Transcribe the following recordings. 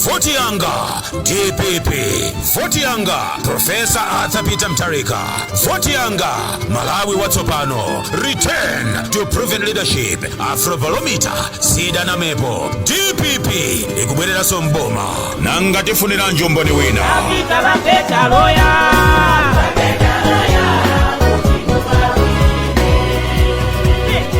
voti yanga dpp voti yanga profesa arthur peter mtarika voti yanga malawi watsopano return to proven leadership afrobalomita sidanamepo dpp ikubwereranso mboma nanga tifuniranji umboni wina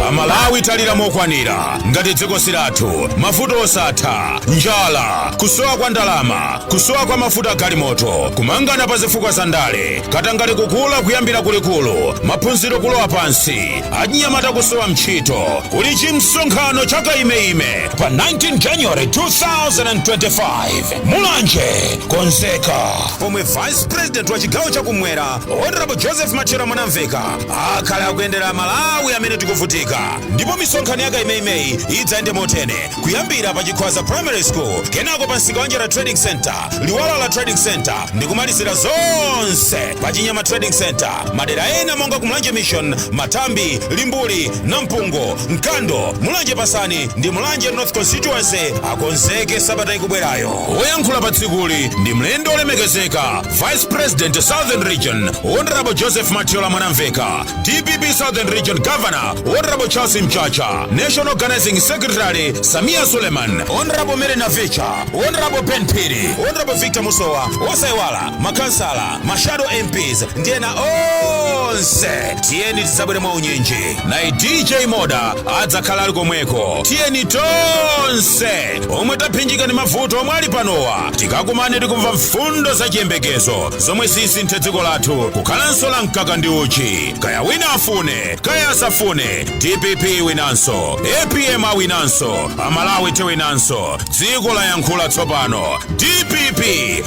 amalawi talira mokwanira ngati dziko silathu mavuto osatha njala kusowa kwa ndalama kusowa kwa mafuta galimoto kumangana pazifukwa za ndale katangale kukula kuyambira kulikulu maphunziro kulowa pansi achinyamata kusowa ntchito kuli chimsonkhano cha kaimeime pa 19 january 2025 mulanje konzeka pomwe vice president wa chigawo chakumwera honorable joseph mathyola mwanamveka akhala akuyendera amalawi amene tikuvutika ndipo misonkhano ya kaimeimeyi idzayende motene kuyambira pa chikhwaza primary school kenako pa msikawanjala trading center luwala trading center ndi kumalizira zonse pa chinyama trading center madera ena monga kumulanje mission mathambi limbuli namphungo mkando mulanje pasani ndi mulanje north constituency akonzeke sabata ikubwerayo woyankhula pa tsikuli ndi mlendo olemekezeka vice president southern region honorable joseph mathyola mwanamveka dpp southern region governor honorable charles mchacha national organizing secretary sameer suleman honorable mary navicha honorable ben phiri honorable victor musowa osaiwala makansala mashado mps ndi ena onse tiyeni tizabwere mwa unyinji naye dj moda adzakhala ali komweko tiyeni tonse omwe taphinjika ndi mavuto omwe ali panowa tikakumane tikamve mfundo za chiyembekezo zomwe zisinthe dziko lathu kukhalanso la mkaka ndi uchi kaya wina afune kaya asafune dpp iwinanso apm awinanso amalawi tiwinanso dziko layankhula tsopano dpp